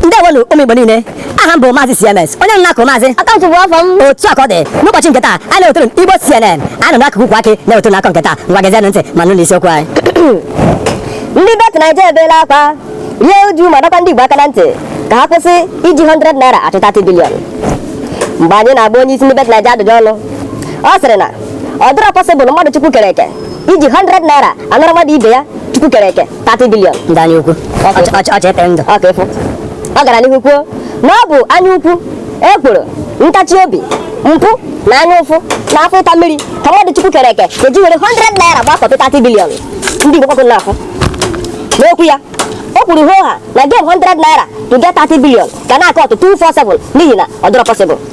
ndewonu ụmụ igbo niile aha m bụ maazị cms onye nọ n'akụkụ maazị akaụntụ bụ afọ m otu a ka ọ dị n'ụbọchị nke taa anyị na-ewetara unu igbo cnn a nọ n'akụkụ ukwu akị na-ewetara unu akụkọ nke taa ngwa gezienụ ntị ma nụ n'isiokwu anyị ndị bet naija ebeela akwa rie uju ma dọkwa ndị igbo aka na ntị ka ha kwụsị iji 100 naira achụ 30 billion mgbe anyị na-agba onye isi ndị bet naija ajụjụ ọnụ ọ sịrị na ọ dịrọ possible mmadụ chukwu kere eke iji 100 naira anara mmadụ ibe ya chukwu kere eke 30 billion ndị anya ukwu ọcha epere ndụ ọka ịfụ ọ gara n'ihu kwuo na ọ bụ anya ukwu ekworo ntachi obi mpụ na anya ụfụ na afọ ịta mmiri ka mmadụ chukwu kere eke ga-eji were 100 naira gbakọta 30 billion ndị igbo kwakụ na-afụ n'okwu ya o kwuru hoo ha na game 100 naira to get 30 billion ga na-acut 247 n'ihi na ọ dịrọ possible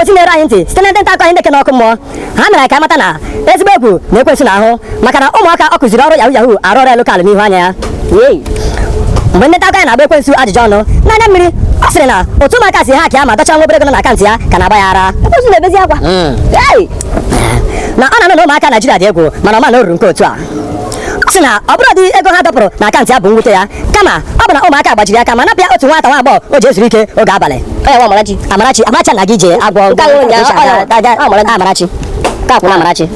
ozi na-eru anyị ntị site na ndị nta akụkọ anyị ndị ke nọ ọkụ mmụọ ha mere anyị ka amata na ezigbo egwu na ekwensu n'ahụ maka na ụmụaka ọ kụziri ọrụ yahoo yahoo arụ ọrụ local n'ihu anya ya mgbe ndị nta akụkọ anyị na-agba ekwensu ajụjụ ọnụ n'anya mmiri ọ sịrị na otu ụmụaka si hack ya ma dọcha nwa obere ego nọ na akaụntụ ya ka na-agba ya ara ekwensu na-ebezi akwa hmm. na ọ na-anụ na ụmụaka Naijiria dị egwu mana ọ ma na o ruru nke otu a sị na ọ bụrọdị ego ha dọpụrụ na akaụntụ ya bụ mwute ya kama ọ bụ na ụmụaka gbajiri aka ma napụ ya otu nwata nwa agbọghọ o ji ezuru ike oge abalị amarachi amarachi na gị jee agwọ amarachi ka akwụna amarachi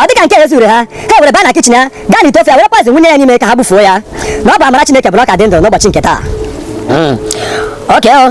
ọ dịka nke ezurọ ha ha were baa na kitchen ya gaa n'ite ofe ya were poison wụnye ya n'ime ka ha bufuo ya na ọ bụ amara chineke bụrụ ka dị ndụ n'ụbọchị nke taa hmm. oke oh.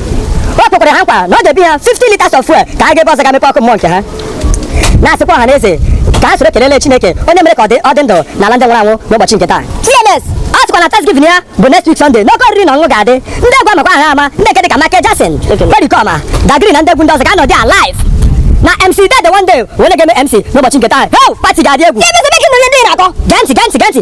o kwekwara ha nkwa na ọ ga-ebi ha 50 liters of fuel ka ha gaa ebe ọzọ ga mepee ọkụ mmụọ nke ha na-asịkwa ọha na eze ka ha soro kelele Chineke onye mere ka ọ dị ọ dị ndụ n'ala ndị nwụrụ anwụ n'ụbọchị nke taa TMS ọ sịkwa na Thanksgiving ya bụ next week Sunday na oke oriri na ọṅụṅụ ga-adị ndị egwu a makwa aha ama ndị nke dị ka Michael Jackson Pericoma Dagrin na ndị egwu ndị ọzọ ga-anọdị live na MC Dede one day wee na-eme MC n'ụbọchị nke taa heo party ga-adị egwu gee ntị gee ntị gee ntị